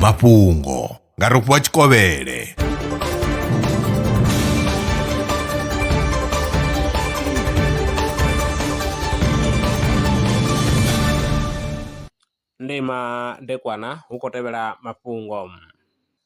mafhungo nga rofhiwa tshikovhele ndima ndekwana hu khou tevhela mafhungo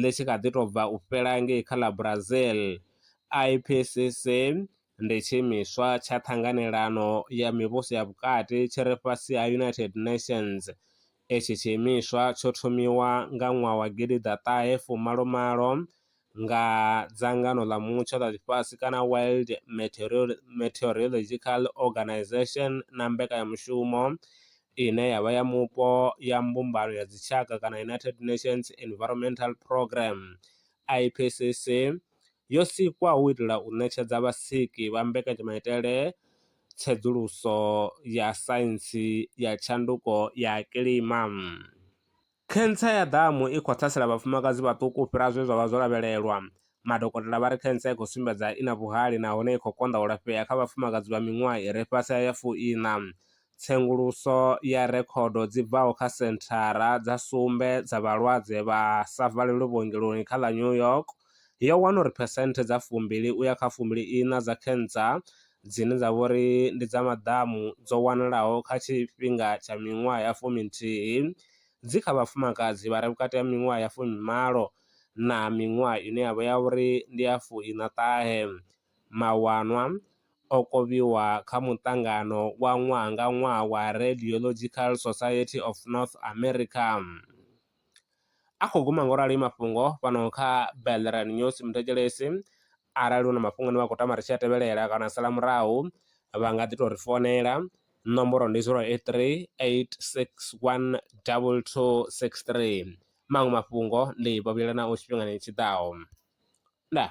ḽi tshi kha ḓi tou bva u fhela ngei kha ḽa Brazil, IPCC ndi tshiimiswa tsha ṱhanganelano ya mivhuso ya vhukati tshi re fhasi ha United Nations. Itshi tshiimiswa tsho thomiwa nga ṅwaha wa gidi ḓa ṱahe fu malo malo nga dzangano ḽa mutsho ḽa ḽifhasi kana World Meteorological Organisation na mbekanyamushumo ine ya vha ya mupo ya mbumbano ya dzitshaka kana United Nations Environmental Programme, IPCC, yo sikwa hu u itela u ṋetshedza vhasiki vha mbekanyamaitele tsedzuluso ya saintsi ya tshanduko ya kilima. Khentsa ya ḓamu i khou ṱhasela vhafumakadzi vhaṱuku u fhira zwe zwa vha zwo lavhelelwa. Madokotela vha ri khentsa i khou sumbedza i na vhuhali nahone i khou konḓa u lafhea kha vhafumakadzi vha miṅwaha i re fhasi ha ya fuiṋa. Tsenguluso ya rekhodo dzi bvaho kha senthara dza sumbe dza vhalwadze vha sa valelwi vhuongeloni kha ḽa New York, yo wana uri phesenthe dza fumbili u ya kha fumbili iṋa dza cancer dzine dza vha uri ndi dza maḓamu dzo wanalaho kha tshifhinga tsha miṅwaha ya fumi nthihi dzi kha vhafumakadzi vha re vhukati ha miṅwaha ya fumi malo na miṅwaha ine ya vha ya uri ndi ya fuiṋa ṱahe. Mawanwa o kovhiwa kha muṱangano wa ṅwaha nga ṅwaha wa Radiological Society of North America. a khou guma ngo rali mafhungo fhano kha Belleran News Muthethelesi. Arali hu na mafhungo ane vha khou tama ri tshi a tevhelela kana a sala murahu vha nga ḓi tou ri founela, ṋomboro ndi zero eight three eight six one double two six three, maṅwe mafhungo ndi vha vhuyelanaho tshifhingani tshi ḓaho. Ndaa.